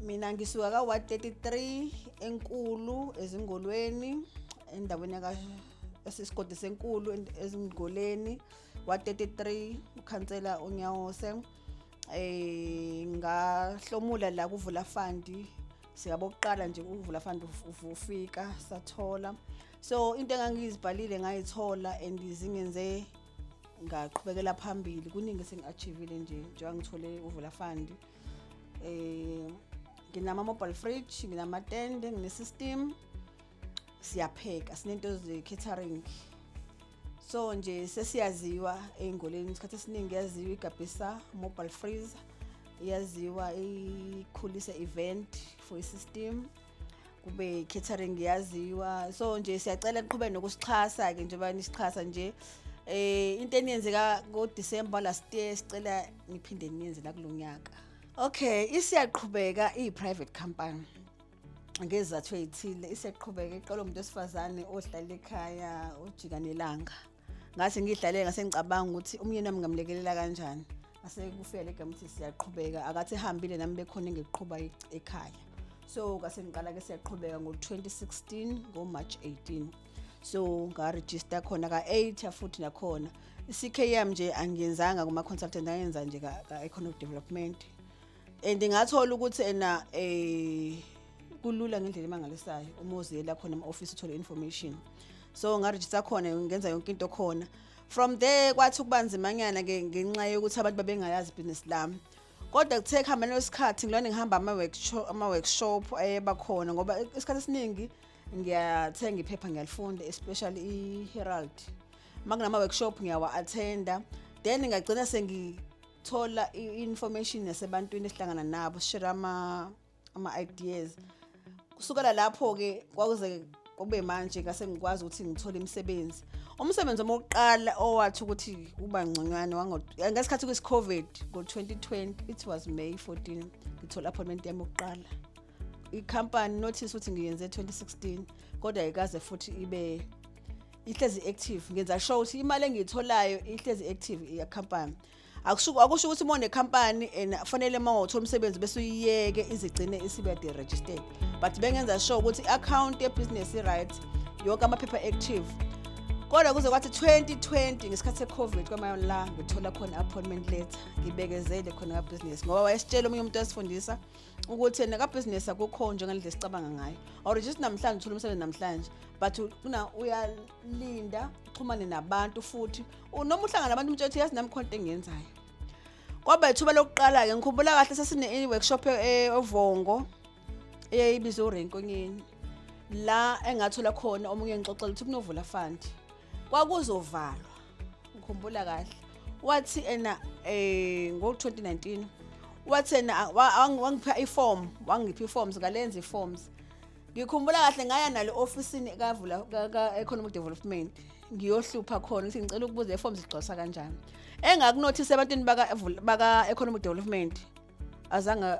mina ngisuka ka-133 enkulu ezingolweni endaweni esisigodi senkulu ezingoleni wa-33 ukhansela unyawose um eh, ngahlomula la kuvula fandi sikabokuqala nje ukuvula fandi ufika sathola so into engangizibhalile ngayithola and zingenze ngaqhubekela phambili kuningi esengi-achivile nje njengoba ngithole uvula fandi eh nginama-mobile fridge nginamatende ngine-system siyapheka sinento ze-catering so nje sesiyaziwa ey'ngoleni isikhathi esiningi yaziwa igabhisa mobile freezer yaziwa ikhulisa event for i-system kube catering yaziwa so nje siyacela niqhubeke nokusixhasa ke njengoba nisixhasa nje eh into eniyenzeka ngo December last year sicela niphinde niyenze la kulonyaka okay isiyaqhubeka i private company ngezathu ezithile isiyaqhubeka iqolo umuntu osifazane ohlala ekhaya ojika nelanga ngathi ngidlale ngase ngicabanga ukuthi umyeni wami ngamlekelela kanjani ngase kufika le game ukuthi siyaqhubeka akathi ehambile nami bekhona engiqhuba ekhaya so ngase ngiqala ke siyaqhubeka ngo-2016 ngo-march 18 so ngarejista khona ka-8 futhi nakhona i-ckm nje angiyenzanga kuma-consultant angenza nje ka-economic development and ngathola ukuthi ena eh kulula ngendlela emangalisayo uma uziyela khona ema-ofisi uthole information so ngarejista khona ngenza yonke into khona from there kwathi ukuba nzimanyana ke ngenxa yokuthi abantu babengayazi ibhizinisi lami kodwa kuthe kuhambeni kwesikhathi ngilona ngihamba ama-workshop ayeba khona ngoba isikhathi esiningi ngiyathenga iphepha ngiyalifunda especially i-herald uma kunama-workshop ngiyawa-athenda then ngagcina thola i-information yasebantwini esihlangana nabo share ama ama ideas kusukela lapho ke kwakuze kube manje ngase ngikwazi ukuthi ngithole imisebenzi umsebenzi omokuqala owathi ukuthi kuba ngconywane ngesikhathi kwisi-covid ngo-2020 it was may 14 ngithola appointment yami yokuqala ikhampani notice ukuthi ngiyenze 2016 kodwa ikaze futhi ibe ihlezi active ngenza sure ukuthi imali engiyitholayo ihlezi active iya company akushuku akusho ukuthi mone company and fanele mawuthola umsebenzi bese uyiyeke izigcine isibe de registered but bengenza sure ukuthi account ye business i right yonke amaphepha active kodwa kuze kwathi 2020 ngesikhathi se-covid kwamayona la ngithola khona appointment letter ngibekezele khona ka-business ngoba wayesitshela omunye umuntu wasifundisa um ukuthi yena kabhizinisi akukho njengendlela esicabanga ngayo or just namhlanje uthola umsebenzi namhlanje but kuna uyalinda uxhumane nabantu futhi noma uhlangana nabantu umtshe ukuthi yazi nami khonto engiyenzayo kwaba ithuba lokuqala-ke ngikhumbula kahle sasine-workshop eovongo e, eyayibizwe urenkonyeni la engathola khona omunye ngixoxela ukuthi kunovula fund kwakuzovalwa ngikhumbula kahle wathi ena eh ngo-2019 wathi ena wangipha iform wangipha iforms ngalenza iforms ngikhumbula kahle ngaya nale ofisini kavula ka-economic development ngiyohlupha khona ukuthi ngicela ukubuza iforms igcwalisa kanjani engakunothisa ebantwini baka-economic development azange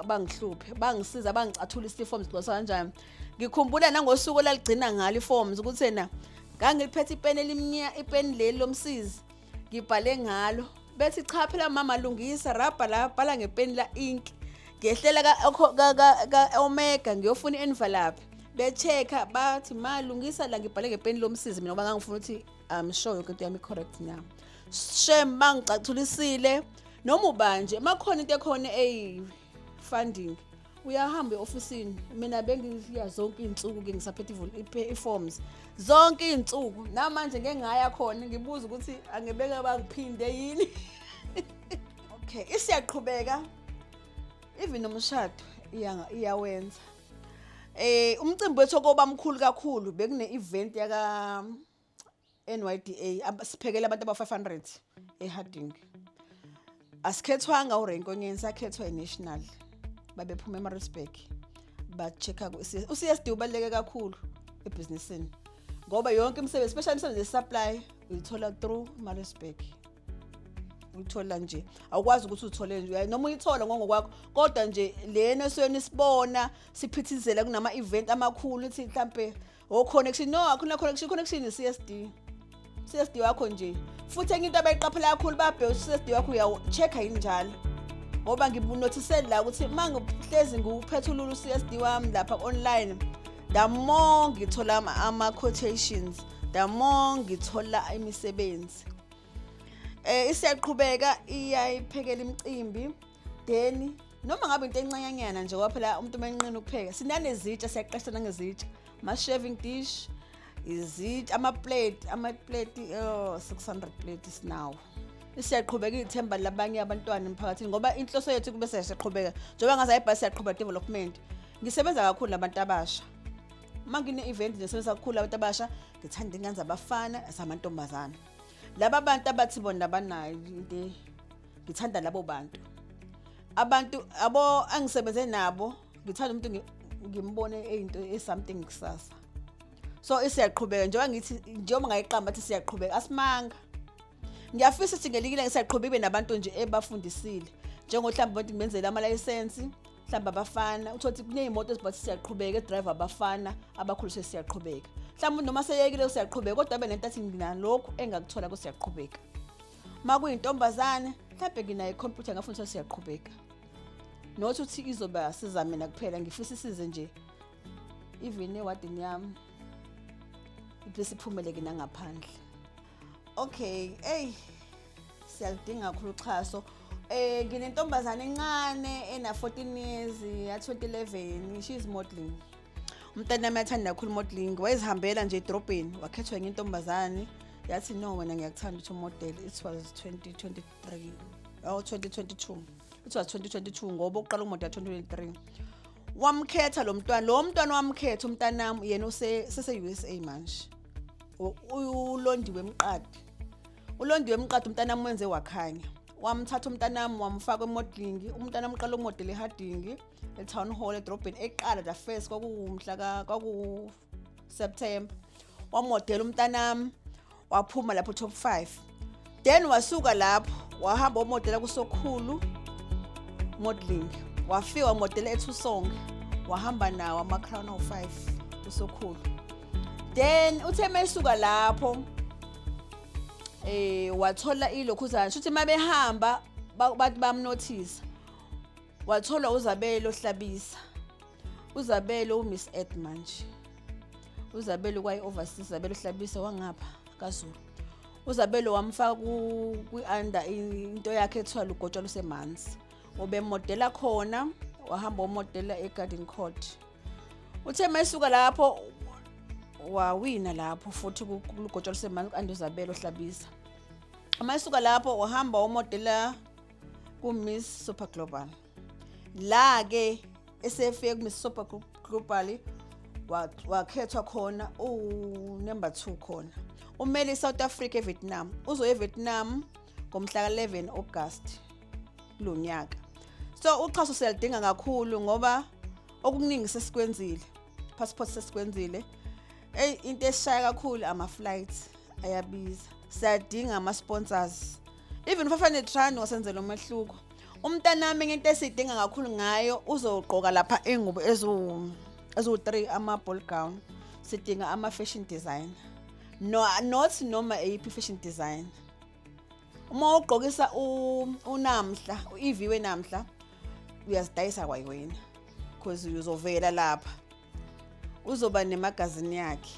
bangihluphe bangisiza bangicathula isiforms gcwasa kanjani ngikhumbula nangosuku laligcina ngalo iforms ukuthi na ngangiliphethe ipeni elimnya ipeni leli lomsizi ngibhale ngalo bethi cha phela mama lungisa rabha la bhala ngepeni la ink ngehlela ka-omega ngiyofuna i-envelope be-check-a bathi ma lungisa la ngibhale ngepeni lomsizi mina ngoba ngangifuna ukuthi um sure yoke into yami i-correct na shem mangicathulisile noma ubanje makhona into ekhona eyi funding uyahamba eofisini mina bengiya zonke izinsuku ke ngisaphethe iforms zonke izinsuku namanje ngeke ngaya khona ngibuza ukuthi angebeka bangiphinde yini okay isiyaqhubeka even nomshado iyawenza eh umcimbi wethu okoba mkhulu kakhulu bekune event yaka NYDA ab- siphekele abantu aba-500 eHarding. Asikhethwanga uRenko Nyeni sakhethwa iNational. Babephuma eMaritzburg ba-check-a ku-CS. UCSD ubaluleke kakhulu ebhizinisini ngoba yonke imisebenzi especially imisebenzi ye-supply uyithola through Maritzburg. Uyithola nje awukwazi ukuthi uthole nje uyaye noma uyithola ngongokwakho kodwa nje lena esweni sibona siphithizela kunama-event amakhulu ithi mhlampe o connection no akhona connection connection i CSD CSD wakho nje futhi enye into abayiqaphela kakhulu babheka CSD wakho uyawu check yini njalo ngoba ngibunothisele la ukuthi mangihlezi ngiwuphethulula uCSD wami lapha online the more ngithola ama quotations the more ngithola imisebenzi eh isiyaqhubeka iyayiphekela imicimbi Deni, noma ngabe into encanyanyana nje ngoba phela umuntu uma enqina ukupheka sinanezitsha siyaqesha nangezitsha ama-shaving dish izitsha ama-plate ama-plate oh, 600 plate sinawo siyaqhubeka ithemba labanye abantwana emphakathini ngoba inhloso yethu kube siyaqhubeka njengoba ngaze ayibhasi siyaqhuba development ngisebenza kakhulu nabantu abasha uma ngine-event ngisebenza kakhulu abantu abasha ngithanda ingane zabafana zamantombazana laba bantu abathi bona banayo into ngithanda labo bantu abantu abo angisebenze nabo ngithanda umuntu ngimbone into e something kusasa so isiyaqhubeka njengoba ngithi njengoba ngayiqamba athi siyaqhubeka asimanga ngiyafisa ukuthi ngelikile ngisaqhubeka ibe nabantu nje ebafundisile njengohlamba abantu ngibenzele amalayisensi mhlawumbe abafana uthole ukuthi kuney'moto eziba ukuthi siyaqhubeka edrive abafana abakhuliswe siyaqhubeka mhlawumbe noma seyekile usiyaqhubeka kodwa abe nento athi nginalokhu engakuthola kusiyaqhubeka uma kuyintombazane mhlawumbe nginayo ikhompyutha ngafuna ukuthi siyaqhubeka not ukuthi izoba siza mina kuphela ngifisa isize nje even ewadini yami ibese iphumeleke nangaphandle okay hey siyalidinga kakhulu uxhaso eh nginentombazane encane ena 14 years ya 2011 she is modeling umntanami athanda kakhulu modeling wayezihambela nje edrobheni wakhethwa enye intombazane yathi no wena ngiyakuthanda ukuthi umodel it was 2023 oh 2022 it was 2022 ngoba uqala umodel 2023 wamkhetha lo mntwana lo mntwana wamkhetha umntanami yena sese-usa manje ulondiwe emqadi ulondiwe emqadi umntanami wenze wakhanya wamthatha umntanami wamfaka emodelingi umntanami uqala umodela ehardingi e-town hall edrobheni eqala the first kwakuwumhla kwakuwuseptember wamodela umntanami waphuma lapho top five then wasuka lapho wahamba wamodela kusokhulu modeling wafika wamodela ethusonge wahamba nawo ama-crown of five kusokhulu then uthe mesuka lapho eh wathola ilokhuzana shuthi uma behamba bathi bamnothisa watholwa uzabelo hlabisa uzabelo umiss ed manje uzabelo kwayi-overseas uzabelo hlabisa wangapha kazulu uzabelo wamfaka kwi-under into yakhe ethiwa lugotshwa lusemanzi ubemodela khona wahamba womodela egarden court uthe mayisuka lapho wawina lapho futhi kulugotshwa lusemanzi ku-anduzabelo hlabisa uma esuka lapho wahamba womodela ku-miss super global la-ke esefike ku-miss super global wakhethwa khona uwunumber two khona umele i-south africa evietnam uzoya evietnam ngomhla ka-11 august kulo nyaka so uxhaso siyalidinga kakhulu ngoba okuningi sesikwenzile passport sesikwenzile eyi into esishaya kakhulu ama-flights ayabiza siyadinga ama-sponsors even ufafane trani wasenzela umehluko umntanami ngento esidinga kakhulu ngayo uzogqoka lapha ingubo eziwu eziwu-three ama-ball gown sidinga ama-fashion designer no, not noma eyiphi i-fashion designer uma ugqokisa unamhla u-ev wenamhla uyazidayisa kwayiwena because uzovela lapha uzoba nemagazini yakhe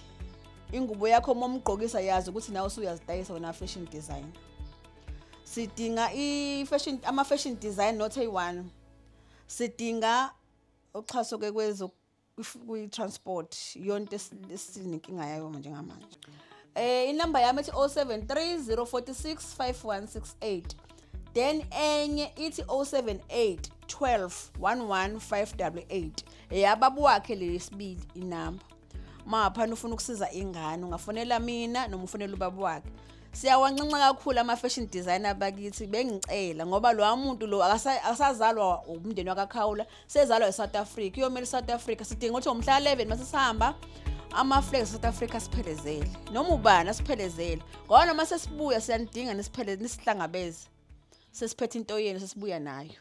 ingubo yakho uma umgqokisa yazi ukuthi nawe usuyazidayisa wena fashion design sidinga i-fashion ama-fashion design not eyi-one sidinga uxhaso ke kwezo kwi-transport yonto esininkinga yayo njengamanje Eh inamba yami ethi 073 046 5168. Then enye ithi 078 12 11588. Eyababa wakhe leyesibili inamba. Maphana ufuna ukusiza ingane ungafonela mina noma ufonela ubaba wakhe. siyawanxenxa kakhulu ama-fashion designer bakithi bengicela ngoba lowa muntu lo akasazalwa umndeni wakakhawula sezalwa eSouth Africa iyomela iSouth Africa sidinga ukuthi ngomhla 11 mase sihamba ama-flag south africa siphelezele noma ubani asiphelezele ngoba noma sesibuya siyanidinga nisipheleze nisihlangabeze sesiphethe into yenu sesibuya nayo